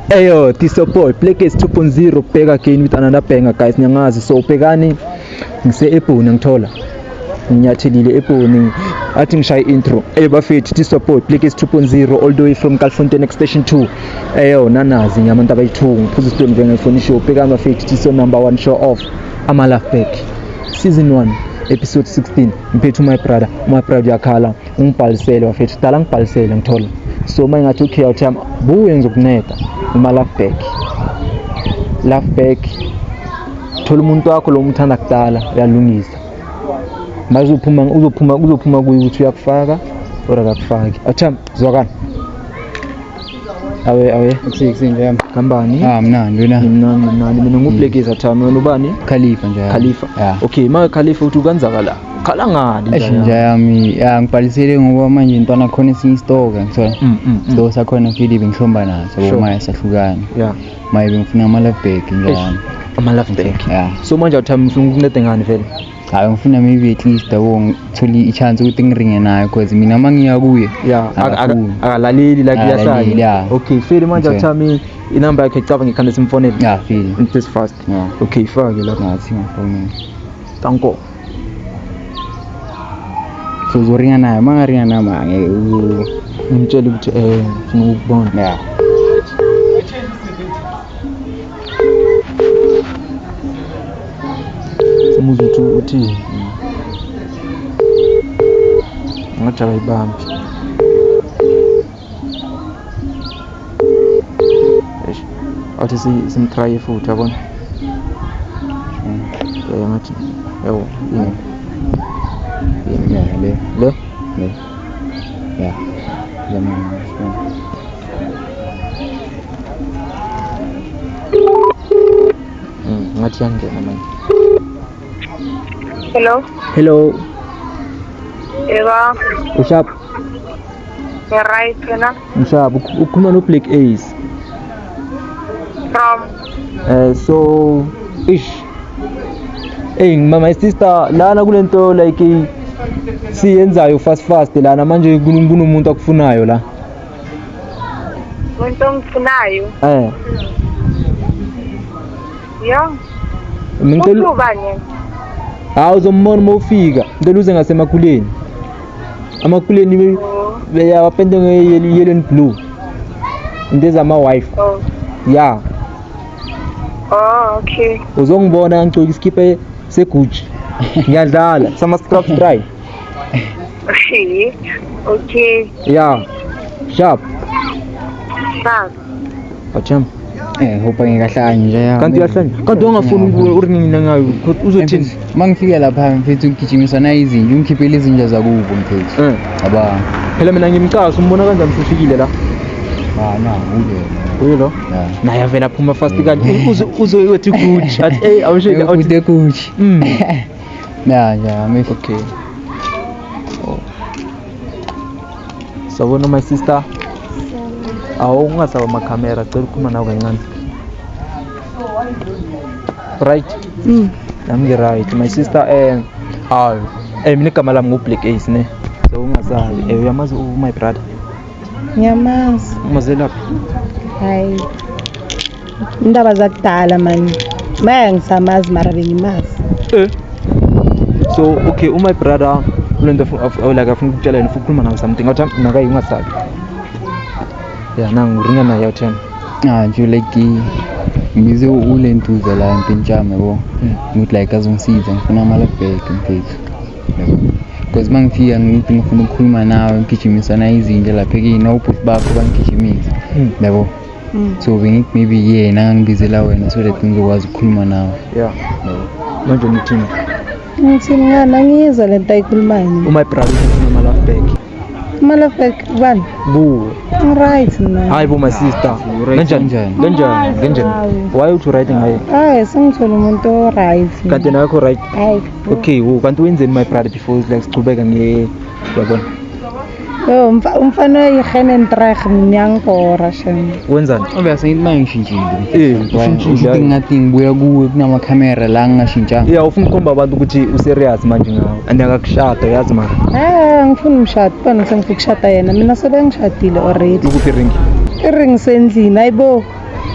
Eyo, this your boy, Blackest 2.0, back again with another banger guys, nyangazi, so bhekani, ngise ebhoni ngithola, nginyathelile ebhoni, athi ngishaye intro, eyo bafethu, this your boy, Blackest 2.0, all the way from Kalfontein Extension 2, eyo, nanazi, ngiyamantu abayithu, ngiphuza isitoni venge ngifoni show, bhekani bafethu, this your number one show off, ama love back, season 1, episode 16, ngiphethu my brother, my brother yakhala, ungibhalisele wafethu kudala ngibhalisele ngithola so uma ingathi ukhiya uthi yami buwenza ukuneda uma laugh back laugh back thola umuntu wakho lo umthanda kudala uyalungisa manje uzophuma uzophuma uzophuma kuye ukuthi uyakufaka or akakufaki athi yami zwakala awe awe kusiksi nje kambani ah mna nduna mna mna mina ngublekeza thami wena ubani khalifa nje khalifa yeah. okay ma khalifa uthi ukanzakala khala ngani eish nje yami ya ngibhalisele ngoba manje intwana khona esinye istoke ngithola mm, mm, mm. so sakhona fidi bengihlomba naso sure. maya sahlukana yeah maye bengifuna ama love bag nje ama love bag yeah so manje uthami ufuna ukuncede ngani vele hayi ngifuna maybe at least yabo ngithole i-chance ukuthi ngiringe naye because mina uma ngiya kuye ya ak- ak- Akakhulu. akalaleli like Akalaleli, uyasala yeah. okay feli manje Okay. athami inamba yakhe caba ngikhanda simfonele ya fili this fast Yeah. okay fake lapho ngathi ngafonini tanko so uzoringa naye uma ngaringa naye ma ngeke u- ngimtshele ukuthi eh ngifuna ukubona ya Umuzi uthi uthi ngathi akayibambi. Eish. Athi si simtry futhi yabona. Eh ngathi yawo yini. Yini ya le. Le? Le. Ya. Ya mama. Mm, ngathi yangena manje. Hello. Hello. Yebo. Ushap. Yeah, right, wena. Ushap, ukhuluma no Black Ace. From. Eh so ish. Hey mama sister lana kulento like siyenzayo fast fast lana manje kunomuntu akufunayo la. Into engifunayo. Eh. Yo. Ngicela ubani? Hawu uzombona uma ufika. Ngicela uze ngasemakuleni. Amakuleni oh. beyawapende nge-yellow and blue. Into ezama-wife. Oh. Yeah. Oh, okay. Uzongibona ngigcoka isikhipa seguji. Ngiyadlala. Sama-scrub try. Okay. Okay. Yeah. Sharp. Sharp. Bacham. Eh, hope ngikahlanya nje ya. Kanti uyahlanya. Kanti ungafuni ukubuya uri mina ngayo. Uzothini? Mangifika lapha mfethu ngigijimisa na izinja, ungikhiphele izinja zakubo mfethu. Eh. Aba. Phela mina ngimcasa umbona kanjani usufikile la? Ah, na, uke. Uyo lo? Yeah. Naye avela phuma fast kanti uzoyothi kuthi. Athi hey, awusho awuthi kuthi. Mm. Yeah, yeah, I'm okay. Oh. Sawubona my sister. Awu ungasaba ama camera, cela ukukhuluma nawe kancane. Right? Mm. Nami ngi right. My sister eh awu eh mina igama lami ngu Black Ace ne. So ungasabi. Eh uyamazi u my brother. Ngiyamazi. Umazela phi? Hayi. Indaba zakudala mani. Maya ngisamazi mara bengimazi. Eh. So okay, uma brother lento oh, like afuna ukutshela yena ufuna ukukhuluma nawe something ngathi nakayi ungasabi. Yeah, nangu ringa naye uthena. Ah, nje like ngize ulentuza la empintshame bo. Hmm. Ngithi like azongisiza ngifuna amala back mfethu. Because uma ngifika ngithi ngifuna ukukhuluma nawe ngigijimisana izinja lapha kini awubhuti bakho bangigijimise. Hmm. Yabo. mm. so bengik maybe yena ngangibizela wena so that ngizokwazi ukukhuluma nawe yeah manje nithini ngithi mna nangiyizwa le nto ayikhulumayo uma ibrother ufuna ama love back ama love back bani buwe right mna hayi bo my sister kanjani njani kanjani kanjani why uthi right ngaye hayi sengithole umuntu o right kanti nakho right hayi okay wo kanti wenzeni my brother before like sichubeka nge yabona Yo mfa- umfana oyihene ntrag ngiyankora shem. Wenzani? Obvious ngithi manje ngishintshile. Eh, Ngisho ushintshile. ukuthi ngathi ngibuya kuwe kunama camera la ngingashintshanga. Yeah, ufuna ukukhomba abantu ukuthi userious manje ngawo. And akakushada yazi mara. Ah ngifuna umshado bani sengifuna ukushada yena mina sebengishadile already. Ukuphi ring? I-ring sendlini ayibo.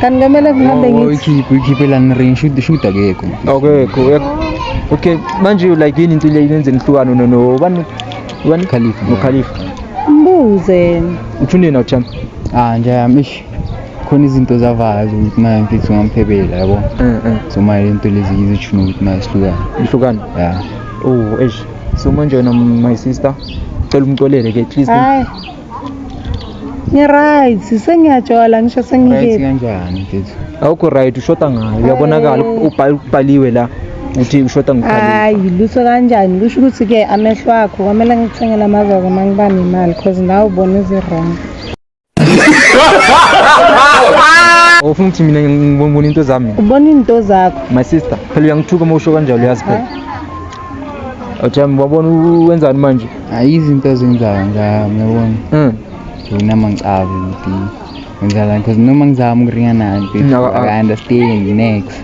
Kanti kumele ngihambe ngithi Uyikhiphe uyikhiphe la ngiring shoot shoot akekho. Okay, cool. Okay, manje like yini into le yenze nihlukane no no. Bani Ubani? Khalifa. No Khalifa. Mbuze. Uthunde na uthanda? Ah nje yamish. Khona izinto zavayo ukuthi manje mfethu ngamphebela yabo. Eh eh. So manje into lezi izishuna ukuthi manje sihlukane. Ihlukane. Yeah. Oh eish. So manje wena my sister cela umcolele ke at least. Hayi. ngi-right sengiyatshola ngisho sengike kanjani mfethu awukho right ushoda ngayo uyabonakala ubhaliwe la uthi ushoda hayi lutho kanjani kusho ukuthi-ke amehlo akho kwamele ngithengele amazoko uma ngiba nemali cause nawe ubona ezi-wrong ufuna ukuthi mina ngibona into zami ubona into zakho my sister phela uyangithuka uma usho kanjalo uyazi phela Awujami wabona wenzani manje? Hayi izinto ezenzayo ngami uyabona. Mm. Ngina mangicabi ukuthi ngenzala because noma ngizama ukuringa nayo mfethu. No, I- I understand next.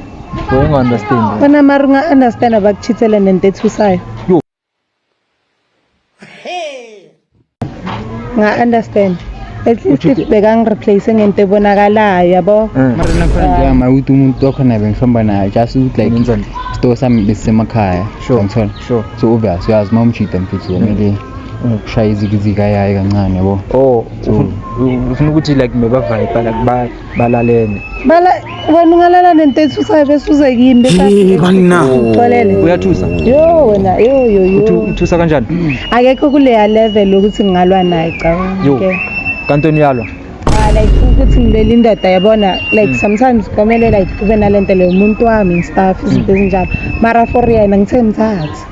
Wonga understand. Bona mara unga-understand abakuchithele nento ethusayo nga understand at least bekangireplace ngento ebonakalayo yabo eh. mara nakhona ah. njenga mawuthi umuntu wakhona bengihamba naye just ukuthi like isitoo sami besisemakhaya ngithola so obvious uyazi uma umjida mfethu kumele ukushaya izikizika yayo kancane yabo oh ufuna ukuthi like mebavayipha like balalene bala wena ungalala nento ethusayo bese uze kimi bese banina uxolele uyathusa yo wena yo yo yo uthi uthusa kanjani akekho kuleya level ukuthi ngingalwa naye cabanga yo kanti uyalwa ah, like ukuthi ngilele indoda yabona like mm. sometimes komele like kube nalento leyo umuntu wami and stuff izinto mm. ezinjalo mara for yena ngithe mthatha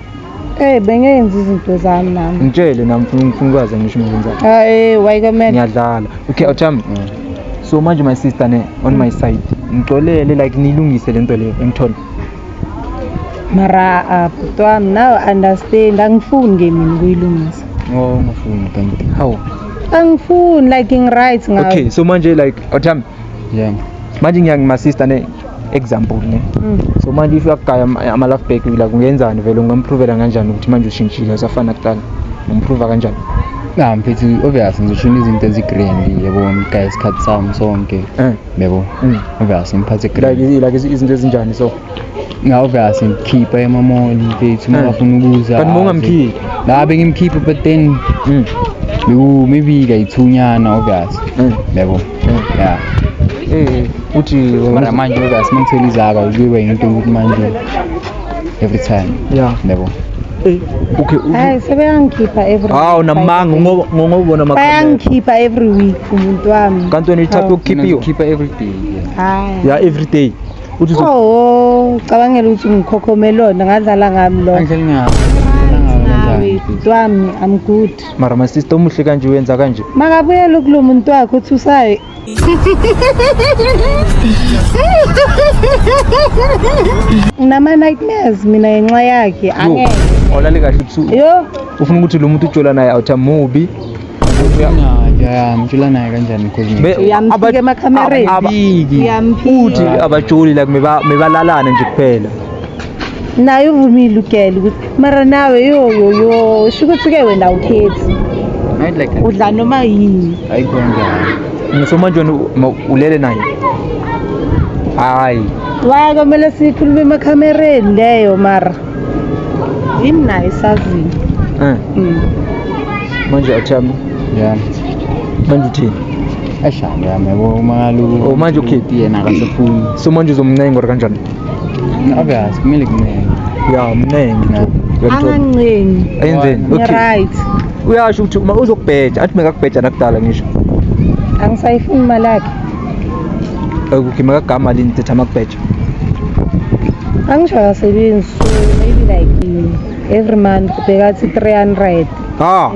Eh bengenza izinto zami nami. Ngitshele nami ngifuna ngifuna ukwazi ngisho ngenzani. Ah eh wayikamela. Ngiyadlala. Okay, awuthami. Mm. So manje my sister ne on my side. Ngixolele like nilungise lento le engithole. Mara ah, bhuti wami now understand angifuni ke mina ukuyilungisa. Oh ngifuni kanti. How? Angifuni like ngiright ngayo. Okay, so manje like awuthami. Yeah. Manje ngiyangima sister ne example ne mm. so manje if uyagaya ama love back la kungenzani vele ungamproovela kanjani ukuthi manje ushintshile usafana kuqala umprova kanjani na mfethu obvious ngizoshuna izinto ezigrand yebo ngigaya isikhathi sami sonke eh. yebo mm. obvious ngiphathe grand like like izinto ezinjani so na obvious ngikhipha emamoli mfethu uma eh. ufuna ukuza kanti ungamkhiphi la bengimkhipha but then mm. beku maybe kayithunyana obvious yebo yeah eh uthi mara manje uyazi mangithela izaba uyiwe into ukuthi manje every time yeah yebo eh, okay hayi sebeyangikhipha every hawu namanga ngoba ngobona makhala bayangikhipha every week umuntu wami kanti wena ithatha ukukhipha iyo khipha every day hayi yeah every day uthi oh cabangela ukuthi ngikhokhomelona ngadlala ngami lo ngidlala ngami I'm good mara masista omuhle kanje uyenza kanje makabuyela ukulo muntu wakhe uthi usayi unama-nightmares mina ngenxa yakhe angeke olale kahle ubusuku yo ufuna ukuthi lo muntu ujola naye awuthi amubi mtshela naye kanjani because Be- Uyamsika aba- emakhamereni. aba- Uyamphika. uthi abajoli like meba- mebalalane nje kuphela naye uvumile ugela ukuthi mara nawe yoyoyo sho ukuthi-ke wena ukhethi udla noma yini hayi konjani ngisho manje wena ulele naye hayi waya kwamele sikhulume emakhamereni leyo mara yini naye isazini eh. mm. manje athami ya manje uthini eshaya yami yabo uma kaloku oh, manje ukhethi yena akasefuni so manje uzomncenga or kanjani obvious kumele kuncenga ya mnengi nje angancengi ayenzeni okay right uyasho ukuthi uma uzokubheja athi mekakubheja nakudala ngisho angisayifuni imali yakhe okay mekagama lini thetha makubheja angisho akasebenzi so maybe like every month bhekathi 300 ha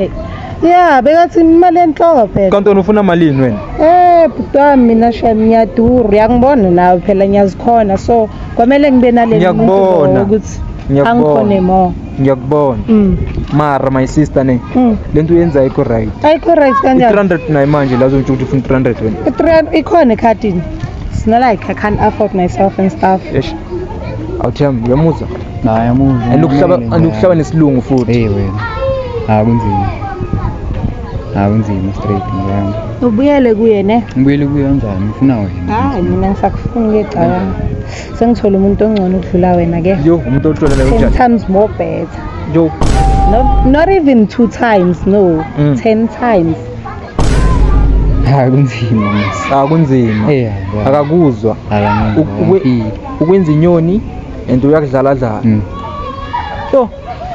ya bekathi imali enhloko phela Kantona ufuna malini wena? Eh bhuti wami mina shem ngiyadura uyangibona nawe phela ngiyazikhona so kwamele ngibe naleli Ngiyakubona. ukuthi Ngiyakubona. angikhone mo Ngiyakubona. mm. Mara my sister ne. mm. Lento uyenzayo ikho right. ayikho right kanjani 300 nayi manje la uzontsho ukuthi ufuna 300 wena. I-300 ikhona ekhadini it's not like i can't afford myself and stuff Eish. Awuthem uyamuzwa. Naye amuzi. And ukuhlaba and ukuhlaba nesilungu futhi. Hey wena. Ha kunzima. Ha kunzima straight ngiyami. Ubuyele kuye ne? Ngibuyele kuye kanjani? Ngifuna wena. Hayi mina ngisakufuna ngecabanga. Sengithola umuntu ongcono ukudlula wena ke. Yo umuntu otholele unjani? Sometimes more better. Yo. No, not even two times, no. Mm. Ten times. hayi kunzima mos ah kunzima eh yabo akakuzwa Akangi- Ukwe- akangi- ukwenza inyoni and uyakudlala dlala Mm. yo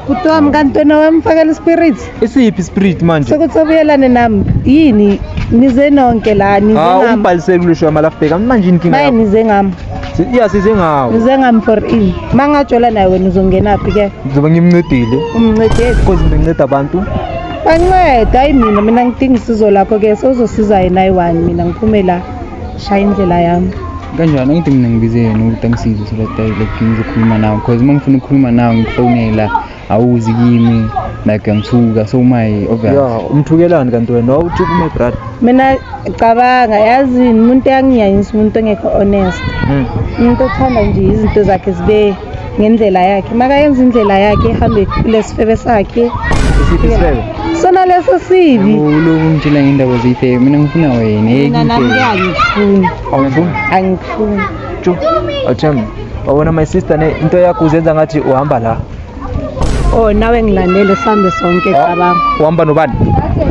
kuthiwa mkantwana wami fakela ispirit isiphi spirit manje sokuthi obuyelane nami yini nize nonke la nize ah ngami umbhalisele kulisho amalafbheka manje inkinga maye yakho nize ngami Si- iya size ngawo nize ngami for in mangajola naye wena uzongenaphi ke ngizobe ngimncedile umncedeli because nginceda abantu banceda hayi mina mina ngidinga isizo lakho ke sozosiza yena ayi-one mina ngiphume la shaya indlela yami kanjani angithi mina ngibize yena ukuthi angisize so that I like ngizokhuluma nawe because uma ngifuna ukukhuluma nawe ngifonela awuzi kimi like ngithuka so my obvious ya umthukelani kanti wena wawuthi kume brad mina cabanga yazini umuntu eyanginyanyisa umuntu ongekho honest Hmm. umuntu othanda nje izinto zakhe zibe ngendlela yakhe makayenza indlela yakhe ihambe kulesifebe sakhe isiphi isifebe sona leso sibi uloku ngitshela ngendaba zeyifebe mina ngifuna wena hey mina nami ngeke angifuni awufuni angifuni jo awuthembi wabona my sister ne into yakho uzenza ngathi uhamba la oh nawe ngilandele sihambe sonke ah, cabanga uhamba nobani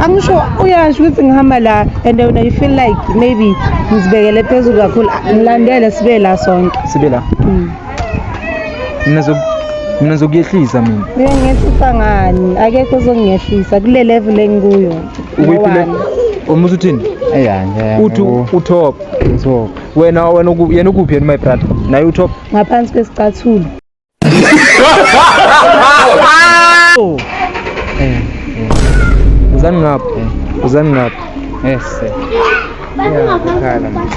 angisho uyasho ukuthi ngihamba la and wena you feel like maybe ngizibekele phezulu kakhulu ngilandele sibe la sonke sibe la mm. mina mina zokuyehlisa mina uyangehlisa ngani akekho ozongehlisa kule level engikuyo ukuyiphile uma usuthini uthi utop wena wena yena ukuphi yena my brother naye utop ngaphansi kwesicathulo oh. eh, eh. uzani ngapha eh. uzani ngapha yes Ngiyakhala manje.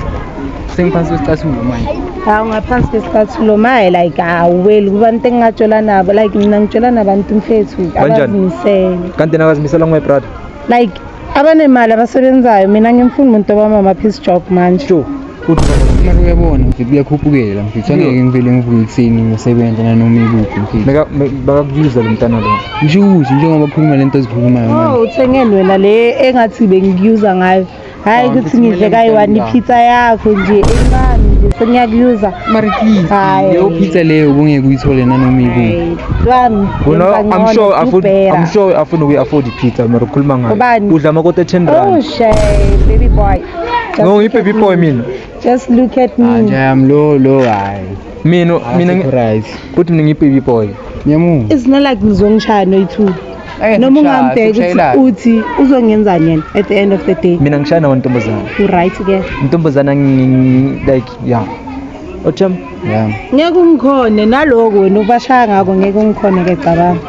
Sengiphansi kwesicathulo manje. Hawu ngaphansi kwesicathulo maye like awuweli kubantu engingatshola nabo like mina ngitshola nabantu mfethu Kanjani? abazimisele. Kanti yena akazimisela ngowe brother. Like abanemali abasebenzayo mina ngimfuna umuntu obamama piece job manje. Sho. Uthi Mara uyabona mfethu kuyakhuphukela mfethu angeke ngivele ngivuke ekuseni ngisebenza nanoma ikuphi mfethu. meka me- bakakubiza lo mntana lo. Ngisho ukuthi njengoba khuluma lento ezikhulumayo manje. Oh uthengen wena le engathi bengikuza ngayo. hayi ukuthi ngidle kayi-one ipizza yakho nje encane nje sengiyakuyuza mari please Hayi. leyo pizza leyo ubungeke uyithole nanoma ikuphi lwami Wena, yenza I'm ngcono, sure afford- kubhera. I'm sure afuna ukuyi-afford i-pizza mara ukhuluma ngayo Ubani? udla amakota ten oh rand shay baby boy Just no look at ngiyi-baby me. boy mina just look at Ah, me njayami lo lo hayi mina mina ngi- right kuthi mina ngiyi-baby boy ngiyamuva it's not like ngizongishaya noyi-two Ake noma ngishaya, ungambheki ukuthi sikushayelane. uthi uzongenzani yena at the end of the day mina ngishaya nawo ntombazana uright ke ntombazana ngi- ngi- like ya otham ya ngeke ungikhone naloku wena ubashaya ngako ngeke ungikhone ke cabanga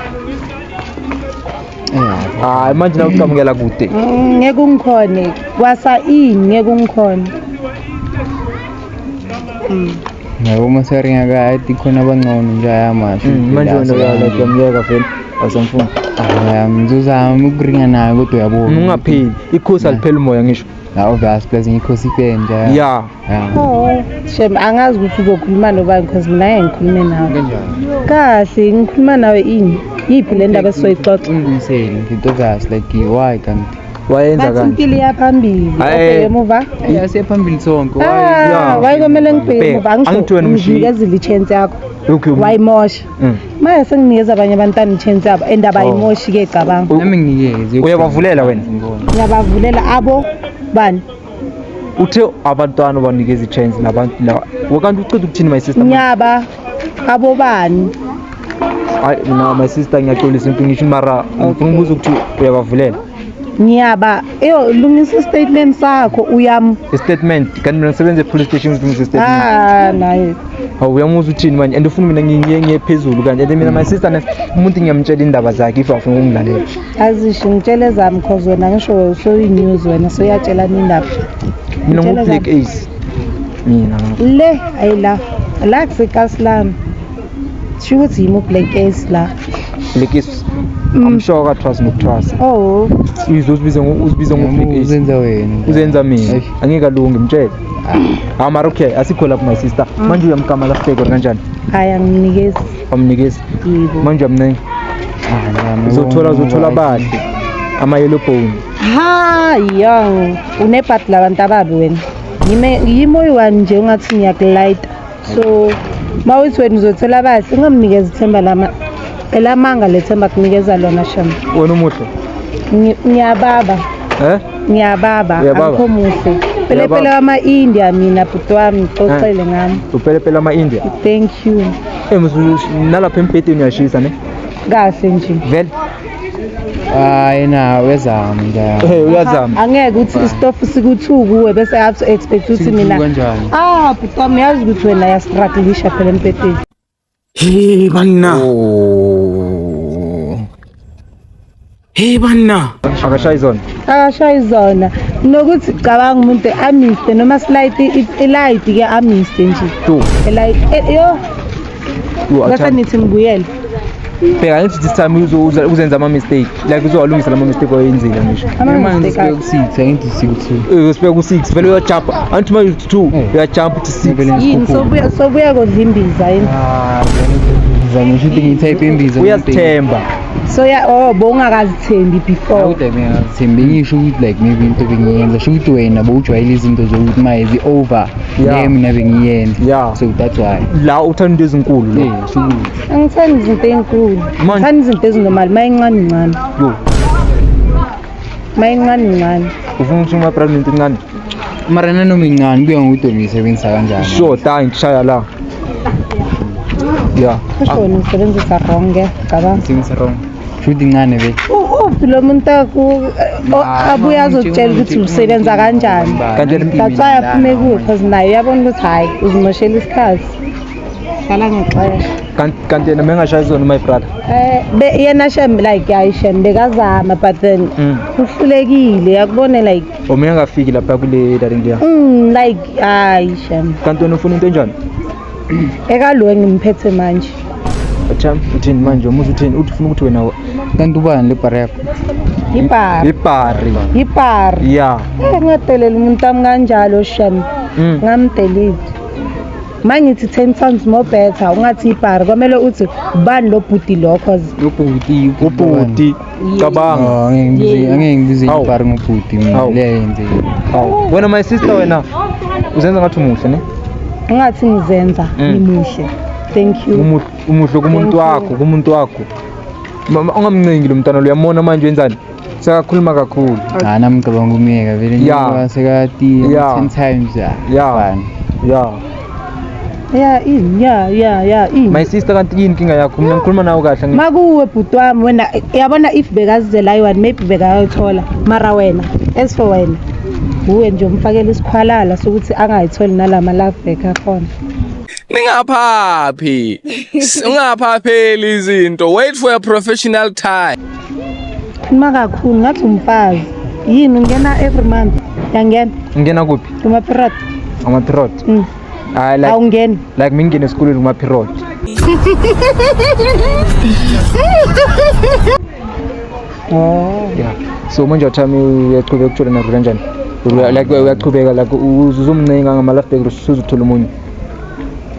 hayi manje na uqamukela kude Mm, ngeke ungikhone kwasa ini ngeke ungikhone Yabo uma seringa kade khona abangcono nje ayamasho. Mm, manje wena uyala kuyamyeka vele awusamfuni. Ngizozama ukuringa naye kodwa uyabona. Ungapheli. Ikhosi alipheli umoya ngisho. Hawu vast plus ngikhosi ipenja. Yeah. Oh, shem angazi ukuthi uzokhuluma nobani because mina ngeke ngikhulume nawe. Kahle ngikhuluma nawe ini? Yiphi le ndaba esizoyixoxa? Nginsele ngidodasi like why kanti? wayenza bathi kanje impilo iyaphambili Aye. obheke emuva yase phambili sonke Ah, yeah. waye kwamele ngibheke Bheka, emuva angisho angithiwe nomshiyi. ngivikezile i-chance yakho Okay, okay. wayimosha Mm. manje senginikeza abanye abantwana i-chance yabo and abayimoshi-ke cabanga nami nginikeze uyabavulela wena ngiyabavulela abo bani uthe abantwana banikeza i-chance nabantu la wakanti uceda ukuthini my sister nyaba abobani hayi mina my sister ngiyaxolisa into ngisho mara ngifuna ukubuza ukuthi uyabavulela ngiyaba yo lungisa istatement sakho uyam istatement kanti mina ngisebenza epolice station ngilungisa istatement ah naye hawu uyamuzwa uthini manje and ufuna mina ngiye ngiye phezulu kanje and mina my sister umuntu ngiyamtshela indaba zakhe if afuna ukungilalela azishi ngitshela ezami cause wena ngisho usuyi-news wena soyatshelana indaba mina ngu-black ace mina le ayi la la kusekasi lami sho ukuthi yimi u-black ace la black ace mm. amshoka kathwasi nokuthwasa oh uyizwa uzibize uzibize ngo-black ace uzenza wena uzenza mina angeke alungi mtshele ah. hawu mara okay asikho lapho my sister mm. manje uyamgama lahleko kanjani hayi anginikezi wamnikeza Yebo. manje amncenga uzothola uzothola abahle ama-yellow bone ha ya unebhadi labantu ababi wena Ngime- yimi oyi-one nje ungathi ngiyakulayita so ma uthi wena uzothola abahle ungamnikeza ithemba lama elamanga le themba kunikeza lona shama wena umuhle Ngi- ngiyababa eh ngiyababa Uyababa? akho muhle Uyababa? pelepele wama-india mina bhuti wami xoxele ngami upelepele ama-india thank you Eh mzulu nalapha embhedeni uyashisa ne. Kahle nje. Vele. Hayi na wezama njalo. Eh uyazama. Angeke uthi istofu sikuthu kuwe bese I have to expect uthi mina. Sikuthu kanjani? Ah, bhutam yazi ukuthi wena ya struggleisha phela embhedeni. Hey banna. Oh. Hey banna. Akashayi zona. Akashayi zona. Nokuthi cabanga umuntu amiste noma slight ilight ke amiste nje. Tu. Ilight eh, yo. Ngase nithi ngibuyele. Bheka ngithi this time uzoza uzenza ama mistake. Like uzowalungisa lama mistake oyenzile ngisho. Uma ngisibeka ku 6 angithi sikuthi. Eh usibeka ku 6 vele uya jump. Anti uma uthi 2 uya jump to 6 vele ngisikho. Yini sobuya sobuya kodla imbiza yini. Ah, ngizama ukuthi ngithe imbiza. Uyasithemba. so ya oh bowungakazithembi before awude mina ngithembe ngisho ukuthi like maybe into bengiyenza sho ukuthi wena bowujwayele izinto zokuthi maye zi over Yeah. le mina bengiyenza Yeah. so that's why la uthanda into ezinkulu lo yeah sho ukuthi angithandi izinto ey'nkulu Manje- ngithanda izinto ezinormal uma incane incane yo uma incane incane ufuna ukuthi uma pregnant incane mara nanoma incane kuya ngokuthi wena uyisebenzisa kanjani sure ta ngishaya la ya kusho wena uyisebenzisa wrong ke cabanga Things wrong. Shoot incane be. uphi lo muntu aku- o- Ah, abuye mama, azokutshela nje ukuthi usebenza umuntu kanjani umuntu Kanti umuntu that's why umuntu aphume umuntu kuyo because naye uyabona ukuthi hhayi uzimoshela isikhathi hlala ngexesha Kanti- kanti yena mengashayi zona my brother Eh, be- yena shem like hayi shem bekazama but then Mm. uhlulekile yakubone like Uma engafiki lapha kule darling dear. Mm like hayi shem. Kanti wena ufuna into enjani? Ekalo engimphethe manje. Atham uthini manje umuzi uthini uthi ufuna ukuthi wena kanti ubani le bar yakho? Ibhari. Ibhari. Ibhari. Yeah. Eh ngadelela umuntu wami kanjalo shem. Mm. Ngamdelete. mangithi 10 times more better ungathi ibhari kwamele uthi ubani lo bhuti lo cause ubhuti ubhuti cabanga Oh, angeke ngibize- angeke ngibize Awu. ibhari ngobhuti mina Awu. leyo yenzeki Awu. wena my sister wena uzenza ngathi umuhle ne ungathi ngizenza Mm. ngimuhle thank you Umuhle- umuhle kumuntu Thank you. wakho kumuntu wakho Mama, ungamncengi lo mntwana lo uyamona manje wenzani sekakhuluma kakhulu hayi namcabanga umyeka vele Ya. njengoba sekatiye Ya. ten times ya Ya. fana ya ya ini ya ya ya ini my sister kanti yini inkinga yakho mina ngikhuluma nawe kahle ngi- makuwe bhuti wami wena yabona if bekazizela iwani maybe bekayothola mara wena as for wena wuwe nje umfakela isikhwalala sokuthi angayitholi nala ma-love back akhona ningaphaphi ungaphapheli izinto wait for a professional time Khuluma kakhulu ngathi umfazi. Yini ungena every month? Yangena. Ungena kuphi? Kuma period. Kuma period. Mm. Hayi like awungeni. Like mingene esikolweni kuma period. Oh. Yeah. So manje uthami uyaqhubeka ukuthola nazo kanjani? Like uyaqhubeka like uzumncenga ngama last break usuzuthola umunye.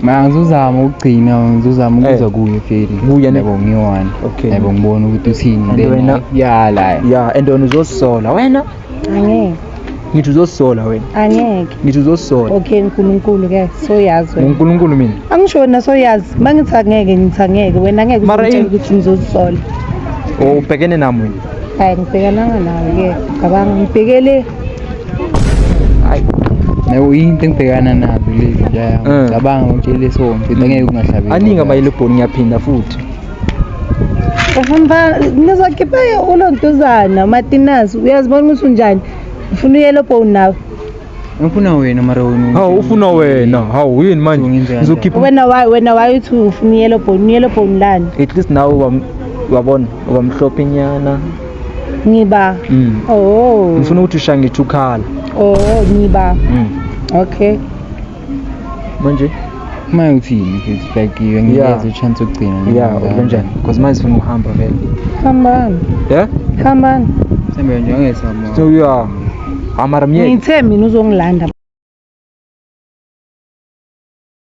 mara ngizozama ukugcina ngizozama Eh. ukuzwa kuye feli Kuye ne- yabo ngiyi-one Okay. yabo ngibona ukuthi uthini And then wena- yala ya and wena uzosola wena angeke ngithi uzosola wena angeke ngithi uzosola okay nkulunkulu ke soyazi wena ngunkulunkulu mina angisho wena soyazi uma ngithi angeke ngithi angeke wena angeke Mara uzitshela yini? ukuthi ngizozisola ubhekene nami wena hayi ngibhekananga nawe ke cabanga ngibhekele Hayi. Nayo into engibhekana nazo lezi nje. Mm. Cabanga ukuthi leso mfethu angeke ungahlabeki. Aningi abayile bhoni ngiyaphinda futhi. Uhamba nizokhipha ulontuzana uMatinazi uyazibona ukuthi unjani. Ufuna uyelo bone nawe. Ngifuna wena mara wena. Hawu ufuna wena. Hawu yini manje? Ngenzeka Ngizokhipha Wena wayi wena wayi uthi ufuna uyelo bone uyelo bone lani. at least nawe ubam- wabona ubamhlophe nyana. ngiba Mm. oh ngifuna ukuthi ushaye ngithi ukhala oh ngiba Mm. okay manje uma uthini ngizifakile Yeah. ngiyeza uchance ukugcina nje ya ngizama. ubenjani because manje sifuna ukuhamba vele hambani ya hambani Sembe nje angesamo so ya amara myeke ngithe mina uzongilanda